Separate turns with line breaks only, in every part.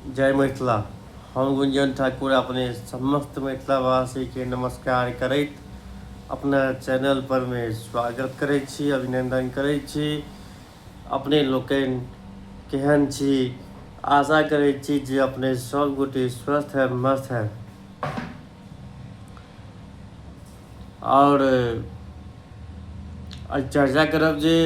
जय मिथिला हम गुंजन ठाकुर अपने समस्त मिथिलावासी के नमस्कार करैत अपना चैनल पर में स्वागत करै छी अभिनंदन करै छी अपने लोकनि केहन छी आशा करै छी जे अपने सब गोटे स्वस्थ है मस्त है आओर आइ चर्चा करब जे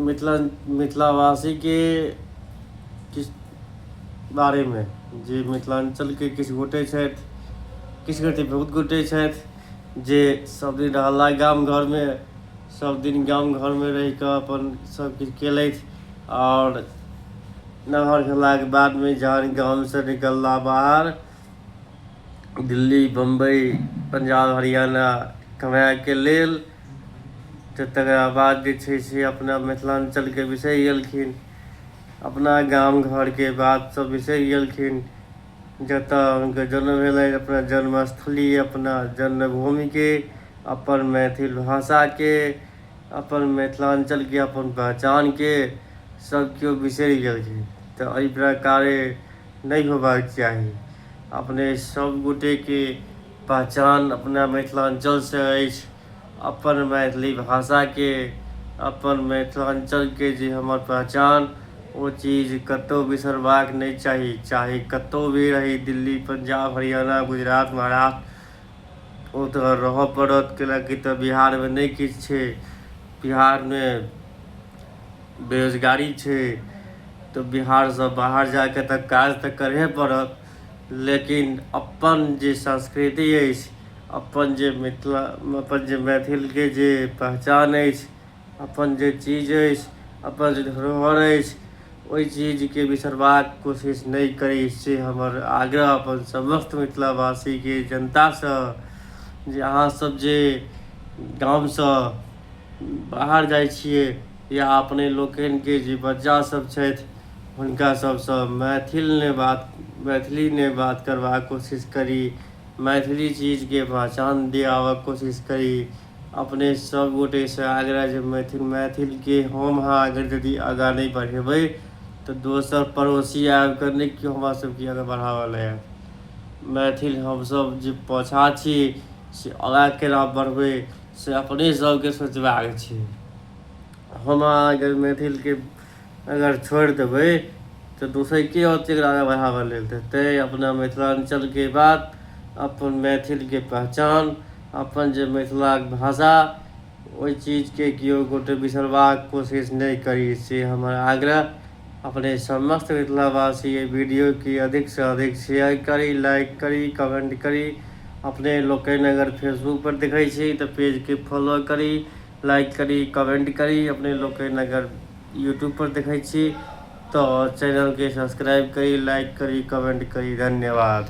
मिथिला मिथिलावासीके किछु बारेमे जे मिथिलाञ्चलके किछु गोटे छथि किछु गोटे बहुत गोटे छथि जे सभदिन रहला गाम घरमे सभदिन गाम घरमे रहि कऽ अपन सभकिछु कयलथि आओर नमहर भेलाके बादमे जखन गामसँ निकलला बाहर दिल्ली बम्बइ पंजाब हरियाणा कमाएके लेल तऽ तकरा बाद जे छै से अपना मिथिलाञ्चलके बिसरि गेलखिन अपना गाम घरके बात सब बिसरि गेलखिन जतऽ हुनकर जन्म भेलै अपना जन्मस्थली अपना जन्मभूमिके अपन मैथिल भाषाके अपन मिथिलाञ्चलके अपन पहचानके सब केओ बिसरि गेलखिन तऽ एहि प्रकारे नहि होयबाक चाही अपने सभ गोटेके पहचान अपना मिथिलाञ्चलसँ अछि अपन मैथिली भाषाके अपन मिथिलाञ्चलके जे हमर पहचान ओ चीज कतहु बिसरबाक नहि चाही चाहे कतहु भी रही दिल्ली पंजाब हरियाणा गुजरात महाराष्ट्र ओ तऽ रहऽ पड़त कैलाकि तऽ बिहारमे नहि किछु छै बिहारमे बेरोजगारी छै तऽ बिहारसँ बाहर जा कऽ तऽ काज तऽ करहे पड़त लेकिन अपन जे संस्कृति अछि अपन जे मिथिला अपन जे मैथिलके जे पहचान अछि अपन जे चीज अछि अपन जे धरोहर अछि ओहि चीजके बिसरबाक कोशिश नहि करी से हमर आग्रह अपन समस्त मिथिलावासीके जनतासँ जे अहाँसभ जे गामसँ बाहर जाइ छियै या अपने लोकनिके जे बच्चासभ छथि हुनका सभसँ मैथिलमे बात मैथिलीमे बात करबाक कोशिश करी मैथिली चीजके पहचान दियाबक कोशिश करी अपने सब गोटे से आग्रह जे मैथिल मैथिल के हम अहाँ अगर यदि आगा नहीं बढ़ेबै तो दोसर पड़ोसी आबि कऽ नहि केओ हमरा सबके आगा बढ़ावा लए आयत मैथिल हमसब जे पाछा छी से आगा केना बढ़बै से अपने सबके सोचबाक छै हम अहाँ अगर मैथिल के अगर छोड़ि देबै तऽ दोसर के औत एकरा आगे बढ़ाबऽ लेल तऽ तैँ अपना मिथिलाञ्चलके बात अपन मैथिलके पहचान अपन जे मिथिलाक भाषा ओहि चीजके केओ गोटे बिसरबाक कोशिश नहि करी से हमर आग्रह अपने समस्त मिथिलावासी एहि वीडियोके अधिकसँ अधिक शेयर करी लाइक करी कमेंट करी अपने लोकनि अगर फेसबुकपर देखै छी तऽ पेजके फॉलो करी लाइक करी कमेंट करी अपने लोक अगर यूट्यूब पर देखै छी तऽ चैनलके सब्सक्राइब करी लाइक करी कमेंट करी धन्यवाद